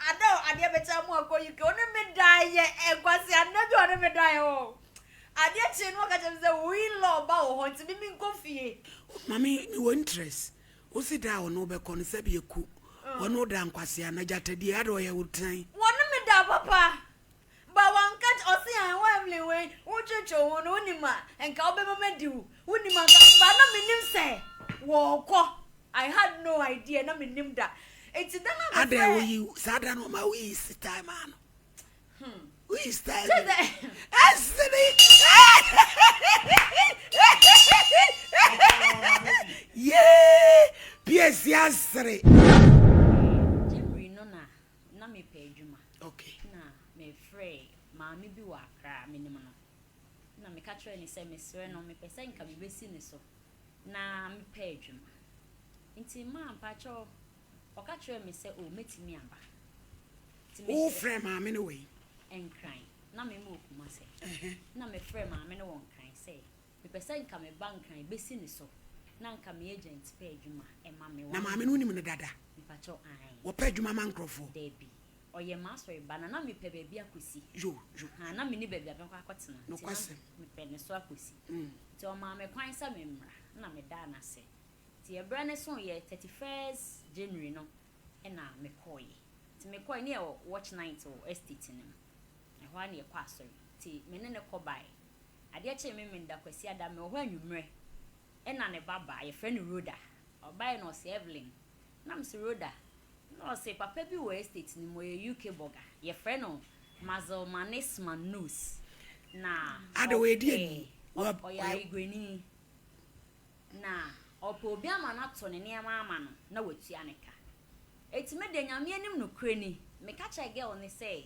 Ada o adeɛ metaa mu akɔ UK ɔne me daeɛ ɛ kwaseada bi ɔne me daeɛ hɔ adeɛ kyee no ɔka kyerɛ me sɛ wo in law ba wɔ hɔ nti me menkɔ fie. Mame me wɔ interest wosi da a ɔne wo bɛkɔ no sɛbi ɛku ɔne wo da nkwaseana gyata die ada ɔyɛ wo tan. Wɔne me daa papa. But wanka kyerɛ, ɔse aah wo Evelyn wei wo twetwew ho no wonim a nka wobɛma madi wo, wonim a nka but na mennim sɛ wɔɔkɔ I had no idea na mennim da nti da no a Adɛn mehwɛɛ. woyi saa da no ɔma woyi style maa no woyi style Sɛ dɛ. ɛsene yee piesi asere. January no na na mepɛ adwuma. Okay. Na mefrɛɛ maame bi wɔ Accra a menim no. Na meka kyerɛɛ no sɛ mesrɛ no mepɛ sɛ nka mebɛsi ne so na mepɛ adwuma. Nti ma mpakyɛw ɔka kyerɛɛ me sɛ oh mɛtumi aba. Nti me. Wofrɛɛ maame no wɔ he? Nkran. Na meme wɔ Kumase. Uh-huh. Na mefrɛɛ maame no wɔ Nkran sɛ Mepɛ sɛ nka me ba nkran bɛsi ne so na nka me agent pɛ adwuma ɛma me. Na maame no wonim no dada? Mpakyɛw, aane. Wɔpɛ adwuma ma nkorɔfoɔ? Daabi. Ɔyɛ m'asɔre ba na na mepɛ baabi akɔsi. Yo, yo. Ahaa, na menni baabi a mɛkɔ akɔtena nti na mepɛ ne so akɔsi. Nti ɔmaa me kwan sɛ memmra na medaa no ase. Nti ɛberɛ no soeɛ, thirty first January no na mekɔeɛ. Nti mekɔeɛ ne yɛ wɔ watch night wɔ estate no mu. Ɛhɔ ara na yɛkɔ asɔre. Nti me ne no kɔ baeɛ. Adeɛ kyee Memenda Kwasiada, mewɔ hɔ anwummerɛ, ɛna ne ba baa, yɛfrɛ no Rhoda. Ɔbaeɛ no ɔse, Evelyn, na mese, Rhoda, na ɔse, papa bi wɔ estate no mu, ɔyɛ UK burger, yɛfrɛ no Mazelmanis Manus, na ɔpɛ, ɔyɛ Ayigrenii. Na ɔpɛ obi ama no ato ne nneɛma ama no na watua ne ka. Eti me de Nyame anim nokorɛ ni, meka kyerɛɛ girl no sɛ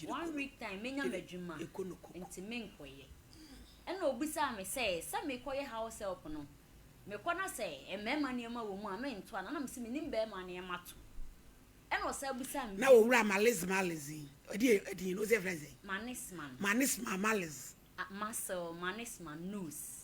one week time menya m'adwuma nti menkɔyɛ. Ɛna obisaa me sɛ sɛ mekɔyɛ house help no mekɔ na sɛ mmarima nneɛma wɔ mu a mentoa no a na mese mennim barima nneɛma to. Ɛna ɔsan bisaa me bio. Na owura Maliz Maliz yi ɔde yɛ din no wosɛ yɛfrɛ no sɛn? Manisman. Manisman Maliz. Muscle Manisman Nose.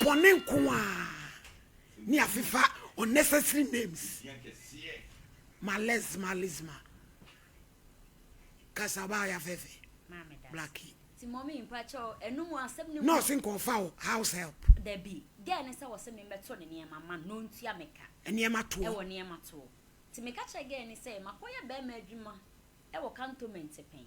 Bɔne nko ara ne afefa unnecessary names males malisma kasa ba ya fɛfɛ blackie ti mommy mpakyɛ o ɛno mu asɛm ne mu nurse nka ɔfa o house help dabi dɛn ne sɛ wɔ sɛ memmɛto ne nneɛma ma no ntua me ka nneɛma toɔ ɛwɔ nneɛma toɔ ti meka kyerɛ gɛɛ ne sɛ makɔyɛ bɛrima adwuma ɛwɔ cantonment pɛn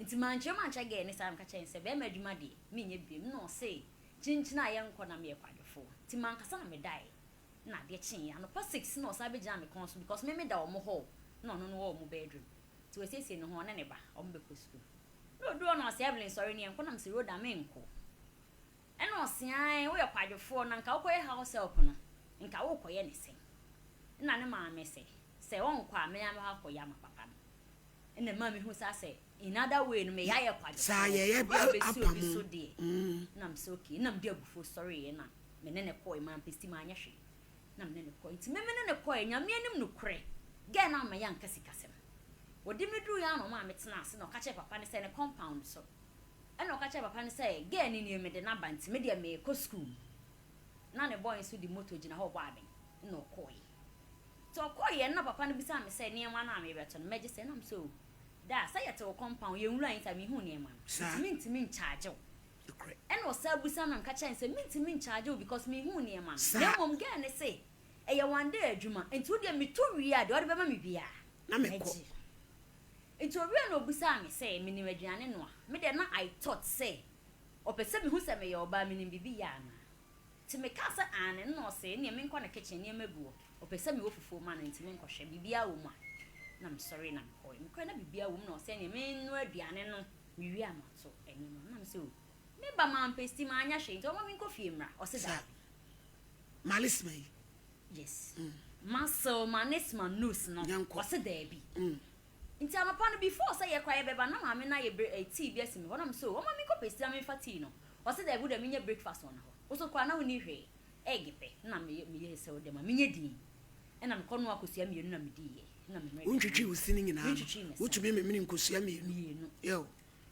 Ntsi mannkyerɛ mu annkyerɛ gɛɛ ne saa meka kyerɛɛ no sɛ, Bɛrima edwuma deɛ, mennyɛ biom. Nna ɔsee, Kyenkyen a yɛnkɔ na meyɛ kwadwofo. Ntsi mankasa na medae. Nna adeɛ kyeeɛ. Anɔpa six nna ɔsan bɛgyinaa me kɔn so because me meda wɔn hɔ o, nna ɔno no wɔ wɔn bedroom. Ntsi wasiesie ne ho, ɔne ne ba, wɔn bɛkɔ sukuu. Nna oduu hɔ na ɔse, Evelyn sɔre na yɛnkɔ, nna mese, Rhoda, mennkɔ. Ɛna ɔse aane woyɛ kwadwofoɔ na nka wokɔyɛ house help no nka worekɔyɛ ne sɛn? Ɛna ne maame se sɛ ɔnkɔ a me ara mɛkɔ akɔyɛ ama papa no. Ɛna ɛmaa me hu saa sɛ in other way no me yɛayɛ kwadwofoɔ ama abɛsi obi so deɛ. Ɛna me se ok ɛna mede abufuo sɔreeɛ na me ne no kɔɔɛ mampɛ steam anyɛ hwee na me ne no kɔɔɛ nti me me ne no kɔɔɛ Nyame anim nokorɛ girl no amma yɛanka sikasɛm. Wɔde me duruiɛ ara na ɔmaa me tenaa ase na ɔka kyerɛɛ papa no sɛ ne compound so Ɛnna ɔka kyerɛɛ papa no sɛ, Girl no nie, mede no aba nti, me deɛ merekɔ sukuu. Na ne boy nso de moto gyina hɔ rebɔ abɛn, ɛnna ɔkɔeɛ. Nti ɔkɔeɛ no, na papa no bisa me sɛ, Nneɛma no a merebɛto no, mɛgye sɛn? Na mese, Oh, daa, sɛ yɛte wo compound, yɛnwuraeɛ nti a menhuu nneɛma no, nti mentumi nkyagye wo. Ɛnna ɔsan bisa me, na meka kyerɛɛ no sɛ, Mentumi nkyagye wo because menhuu nneɛma no. Na mmom girl no se, Ɛyɛ one day adwuma, nti wo deɛ meto wie a, deɛ wode bɛma me biara, mɛgye. Enti owiee no obisaa me sɛ minim aduane noa. Me deɛ na I thought sɛ ɔpɛ sɛ mihu sɛ meyɛ ɔbaa minim biribi yɛ anaa. Nti mekaa sɛ aane no na ɔse ɛneɛ menkɔ ne kitchen nneɛma gu hɔ, ɔpɛ sɛ mewɔ fufuo ma no nti menkɔhwɛ biribiara wɔ mu a. Na mesɔree na mekɔɔɛ. Mekɔɛ na biribiara wɔ mu na ɔse ɛneɛ mennoa aduane no mewie a mato nneɛma mu. Na mese oh. Meba mampɛ steam anyɛ hwee nti ɔma menkɔ fie mmra. Ɔse daabi. Sɛ Malisma yi Yes masew manes ma nose no Nyankɔ. ɔse daabi Mm. nti anɔpa no before sɛ yɛkɔ a yɛbɛba na maame no ayɛ bre eh, tea bi asi me hɔ na mese oh ɔma menkɔ pɛsi na memfa tea no ɔse daabi wodeɛ menyɛ breakfast wɔ nahɔ wo so koraa na wonni hwee egg pɛ na meye meyɛ sɛ wodeɛ ma menyɛ din ɛna mekɔ noa kosua mmienu na mediiɛ ɛna me mmerɛ Wontwitwii wo sini nyinaa no? mentwitwii me se Wotumi memene nkosua mmienu? mmienu Yo.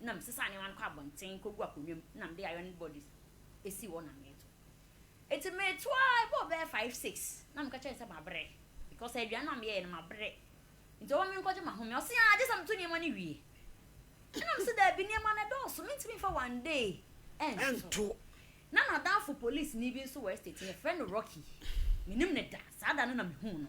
na mesesa nneɛma no kɔ abɔnten kogu akonnwa mu na mede iron bodies si hɔ na meto. Enti meto ara ɛbɔɔ bɛyɛ five six na meka kyerɛɛ no sɛ mabrɛ because aduane no a meyɛeɛ no mabrɛ nti ɔma menkɔgye m'ahome. Ɔse aa gye sɛ meto nneɛma no wie. Ɛna mese daabi nneɛma no ɛdɔɔso mentumi mfa one day ɛnto. Na n'adamfo polisini bi nso wɔ estate no yɛfrɛ no Rocky menim no da saa da no na mehuu no.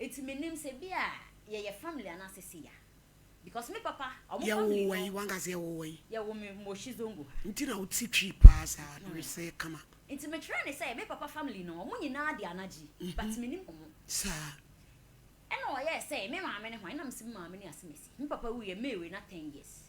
Eti me nim sɛ ebi a yɛ yɛ family anaa sɛ si ya because me papa ɔmo family no. Yɛ wo wɔ yi wankasa yɛ wo wɔ yi. Yɛ wo me moshi zongo ha. Nti na wo ti twi paa saa na wo sɛ kama. Nti me kyerɛ ne sɛ me papa family no ɔmo nyinaa de anagye but me nim ɔmo. Saa. Ɛna ɔyɛɛ sɛ me maame ne hwan ɛna me se me maame ne asemesi me papa wuiɛ May wei na ten years.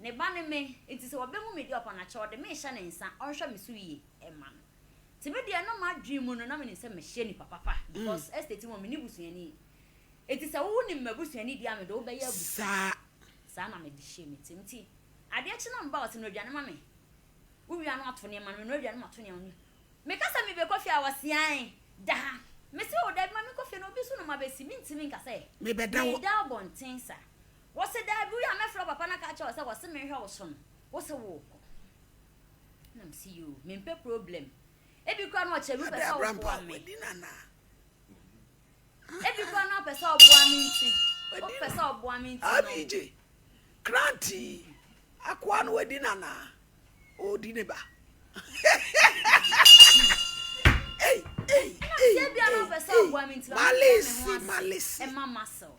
Ne ba ne me, enti sɛ ɔbɛhu me deɛ ɔpɛ no akyɛ, ɔde me rehyɛ ne nsa, ɔnhwɛ me so yie mma no. Nti me deɛ na m'adwene mu no, na menim sɛ mɛhyɛ nipa papa because estate mu hɔ, menni busuani. Enti sɛ wonim m'abusuani deɛ a, mede wo bɛyɛ abusa. Saa na mede hyɛɛ me tirim. Nti adeɛ kye na me ba ɔse, Noa aduane ma me. Wowia no ato nneɛma no, menoa aduane mato nneɛma no. Meka sɛ mebɛkɔ fie a, ɔse, Ae, da ha. Mese, Oo, dabi, ma menkɔ fie na obi nso na ɔma bɛsi. Mentumi nka sɛ meda abɔnten saa. Wɔse daabi woyɛ a mɛfrɛ wo papa no aka akyerɛ wo sɛ wɔse menhwɛ wo so no wose wookɔ na mese yoo mempɛ problem ebi koraa na ɔkyerɛ me wopɛ sɛ woboa me ebi koraa na ɔpɛ sɛ ɔboa me nti ɔpɛ sɛ ɔboa me nti no abigye kranti akoa no wadi nana ɔdi ne ba Malesi, Malesi. Ɛma muscle.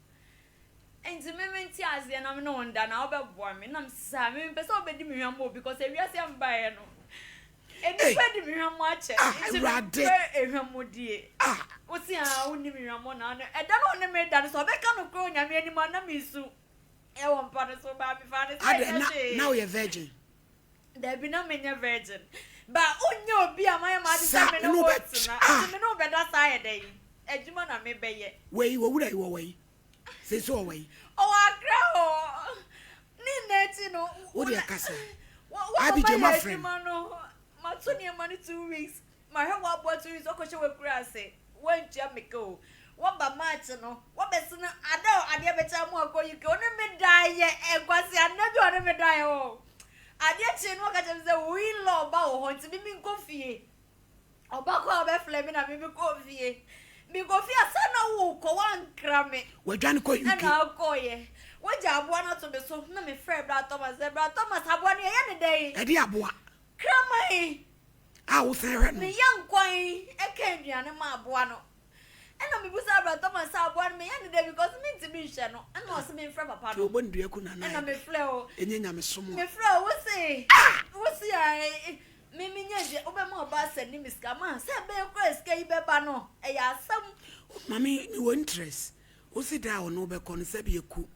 Enti me mente aseɛ na me ne wo nda na wobɛboa me na mese saa me mempɛ sɛ wobɛdi me hwammɔ bi cause ewiase a mebaeɛ no nnipa adi me hwammɔ akyɛ ah, nti mempɛ hwammɔdie ah. wose a ah, wonni me hwammɔ na ano ɛda no ɔne me da no sɛ ɔbɛka no korɔ onyame anim a na mesu ɛwɔ mpa no so baa mefaa no sɛ ɛnyɛ hwee na woyɛ virgin Dabi, na menyɛ virgin. Ba, wonyɛ obi a mayɛ m'ade sɛ me ne wo retena. Enti me ne wo bɛda saa ayɛ dɛn? Adwuma na mebɛyɛ. Wei, w'owura yi, ɔwɔ he? Seesei ɔwɔ he? Ɔwɔ Accra hɔ. Ne nna akyi no, wo na, wo na mayɛ adwuma no, mato nneɛma no two weeks. Ma hwɛ w'abɔdze yi dze ɔkɔhyɛ w'ekura ase, w'entua me ka o, wɔba March no, wɔbɛse no ada o, adeɛ bɛkye ama ɔakɔ UK, ɔne me daeɛ ɛ, nkwasia nna bi a ɔne me daeɛ hɔ o, adeɛ kyee no ɔka kyerɛ me sɛ wo in law ba wɔ hɔ nti me menkɔ fie, ɔba kɔ a ɔbɛfrɛ me na me mekɔɔ fie, mekɔ fie a sɛ na worekɔ woankra me, Wadwane kɔ UK. ɛna ɔkɔeɛ, wagya aboa no ato me so, na mefrɛɛ Bra Thomas sɛ Bra Thomas aboa no yɛyɛ no dɛn? Ɛdeɛ aboa. Kraman. a wosan hwɛ no. Ne yɔnko yi ka aduane ma aboa no ɛna mebisa bra Thomas sɛ aboa no meyɛ no dɛ because mentumi nhwɛ no ɛna ɔse memfrɛ papa no. Ti ɔbɔ ne dua ku nana ɛna mefrɛ o. Ɛnyɛ nyamesom a. Mefrɛ o wose wose a me menya dua wobɛma ɔba asɛ ne me sika ma sɛ ɛbɛyɛ kora sika yi bɛba no ɛyɛ asɛm. Mame mewɔ interest wose da a ɔno bɛkɔ no sɛbi ɛku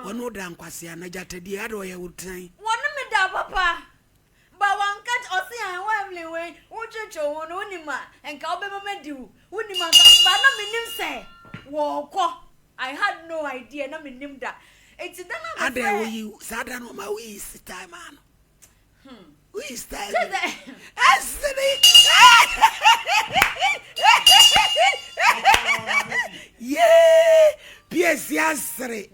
ɔno da nkwasea na gyata die ada ɔyɛ wo tan. Wɔne me da papa. But wanka kyerɛ ɔse ae wo Evelyn wei wo kyerɛkyerɛ ho no wonim a nka wobɛma madi wo wonim anka but na menim sɛ wɔɔkɔ I had no idea na menim da eti da na mesɛ. Adɛn woyi saa da no ɔma woyi style maa no woyi style bi no ɛsɛ ne yee piesie asere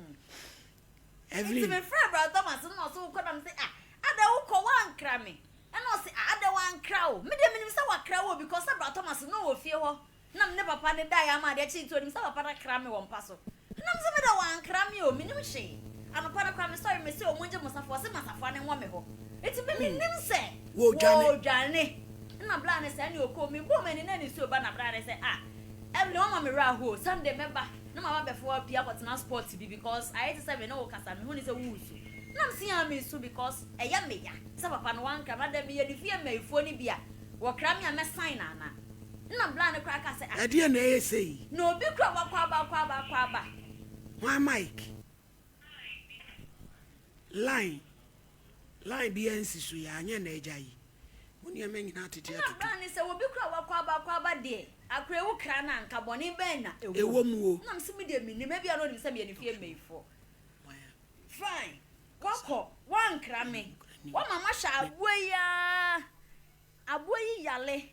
Every. Nti mefrɛɛ Bra Thomas no na ɔse wokɔ na mese ah adɛn wokɔ woankra me ɛna ɔse ah adɛn wankra wo medeɛ menim sɛ wakra wo o because na Bra Thomas no wɔ fie hɔ na mene papa no daeɛ ama adeɛ kye nti ɔnim sɛ papa no akra me wɔ mpa so ɛna mese medeɛ wankra me o menim hwee anɔpa no koraa mesɔre mese ɔmo ngye mo safoa ɔse ma safoa no nwɔ me hɔ nti me menim sɛ wɔɔdwane ɛna Bra no sɛ ɛne ɔkɔɔ mebɔɔ m'ani na nisuo ba na Bra no sɛ ah Evelyn wama me werɛ aho o Sunday mɛba na ma w'abɛfoɔ apue akɔtena spot bi because ayɛ te sɛ me ne wo kasa mehu ne sɛ wo resu na mese aa meresu because ɛyɛ me ya sɛ papa no wankra me adɛn meyɛ ne fie maifoɔ no bi a wɔkra me a mɛ sign ana na bla no koraa ka sɛ ah Ɛdeɛn na ɛyɛ sei? na obi kura wakɔ aba akɔ aba akɔ aba. Hwan mic? Line Line biaa nsi so yi anyɛ na agya yi mo nneɛma nyinaa atete atutu. Ɛna bra ne sɛ obi kura wakwaaba akwaaba deɛ akura ewu kra no a nka bɔne bɛn na ɛwɔ mu o. Ɛna me se me deɛ me nim ebia na onim sɛ meyɛ ne fie mmayifoɔ fine wakɔ wankra me wama mahwɛ aboa yi aa Aboa yi yale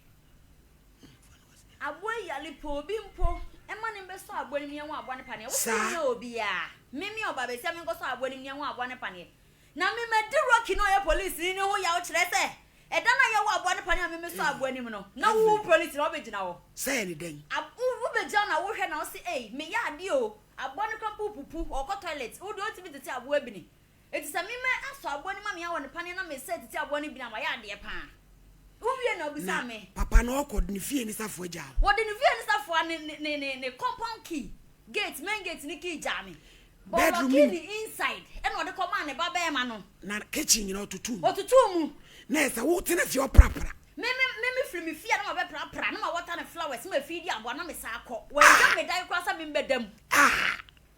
aboa yi yale pɛ obi mpo ma ne mbɛsɔ aboa no mu yɛnwo aboa no paneɛ wo sɛ wohia obiaa me me ɔba bɛsia me nkɔsɔ aboa no mu yɛnwo aboa no paneɛ na me madi Rocky na ɔyɛ police ni ne ho yaw kyerɛ sɛ ɛda no a yɛwo aboa no paneɛ a me mesɔ aboa no mu no na wo wo police na wobɛgyina hɔ sɛ yɛ ne dɛn wobɛgyina na wohwɛ na wo se ei meyɛ adeɛ o aboa no kora mpo pupu ɔkɔ toilet wo deɛ ɔntumi tete aboa bi ni Enti sɛ me mɛn asɔ aboa no mu amia wɔ ne paneɛ na me sɛɛ titi aboa no bi no a, mayɛ adeɛ paa. Wo wie na ɔbisaa me. Na papa no ɔkɔ de ne fie ne safoa gyaa wo. Wɔde ne fie ne safoa ne ne ne ne ne compound key, gate, main gate ne key gyaa me. Bɔ Bedroom lɔki mu. ne inside ɛna ɔde kɔmaa ne ba bɛɛma no. Na kitchen nyinaa ɔtotoo mu. Ɔtotoo mu. Na ɛsɛ wo tena fie ɔprapra. Me me me me firi me fie a na ma bɛ prapra na ma wɔta ne flowers ma fii di aboa na me saa kɔ. Wɛn dwam me dan koraa sɛ me mbɛ da mu. Ah!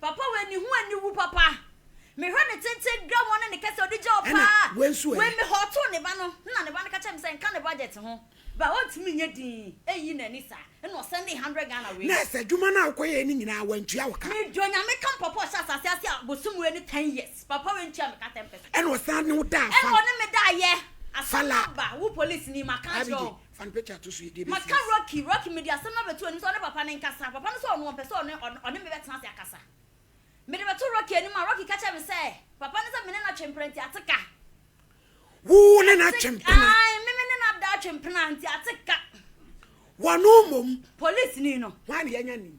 Papa wei ne ho aniwu papa. Me hwɛ ne tenten gra ho ne ne kɛsɛ ɔde gya hɔ paa. Ɛna wei nso ɛ? Wei me hɔɔtoo ne ba no na ne ba no ka kyerɛ me sɛ nka ne budget ho ba ɔntumi nyɛ din ɛyi n'ani saa ɛna ɔsɛndee hundred Ghana wei. Nurse adwuma no a wokɔ yɛɛ no nyinaa wantua wo ka? Mede Onyame ka papa ɔhyɛ asase ase a bosom wei ne ten years papa wei ntua me ka ten percent. Ɛna ɔsan ne wo daa fala. Ɛna ɔne me daa yɛ. Fala. Asɛm aba wo polisini maka akyerɛ wo. Fan picture a ɛto so edie bɛfiri Maka ase. Rocky, Rocky mede asɛm no abɛto anim sɛ ɔne papa no nkasa. Papa no sɛ ɔno ɔmpɛ sɛ ɔne ɔne ɔne me bɛtena ase akasa. Mede bɛto Rocky anim a, Rocky ka kyerɛ me sɛ papa no sɛ me ne no atwe mpena nti ate ka. Wo ne no atwe mpena? Ae, me me ne no ada atwe mpena nti ate ka. Wɔno mmom. Polisini no. Hwan na yɛanya nim?